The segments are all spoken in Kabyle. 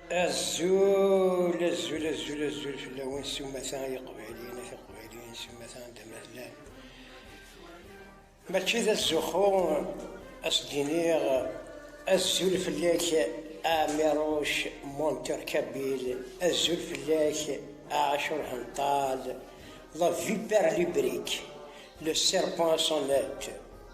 Azul, azul, azul, azul fell-awen s umata ay iqbayliyen ak iqbayliyen s umata anda ma tellam. Mačči d azuxxu as d-iniɣ azul fell-ak a Miruc Montercabil, azul fell-ak a Acur Hental, la vipère librique, le serpent à son net.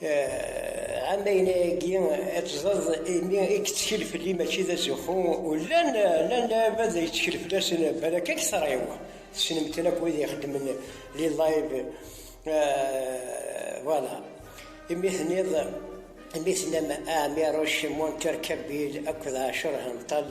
ɛama yagi ad tẓeḍ imi i yettkel fell-i mačči d azuxxu llan llan lɛibad ay yettkel fell-asen balak ad k-tṛiw tessnem-ten akk wid ixeddmen li live voilà imi teniḍ imi tennam Amiruc Montercabil akked ɛecṛ henṭal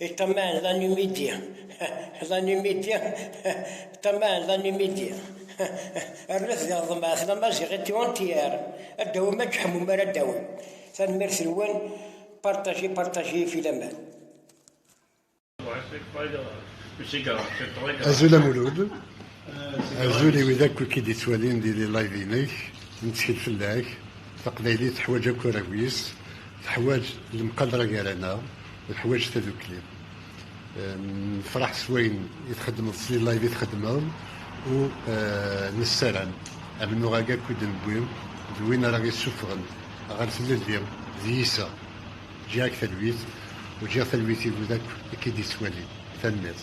I taman d anumidi. D anumidi. Taman d anumidi. Rret d aḍmas, d amaziɣ i tiwantiyer. Ad d-awim ad d-ḥmum ara d-awim. Tanemmirt-nwen, partager, partager, filaman. Azul a Mulud, azul i wid akk i k-id-ittwalin di live-inek, nettkel fell-ak, taqbaylit teḥwaǧ akk arraw-is, Teḥwaǧ lemqadra gar-aneɣ, teḥwaǧ tadukli. Nefraḥ s wayen i txeddmeḍ, s live i txeddmeḍ u nessaram amennuɣ-agi akk i d-newwi d win ara ɣ-yessufɣen ɣer tlelli d yiseɣ. Ǧǧiɣ-ak talwit u ǧǧiɣ talwit i wid akk i k-id-yettwalin. Tanemmirt.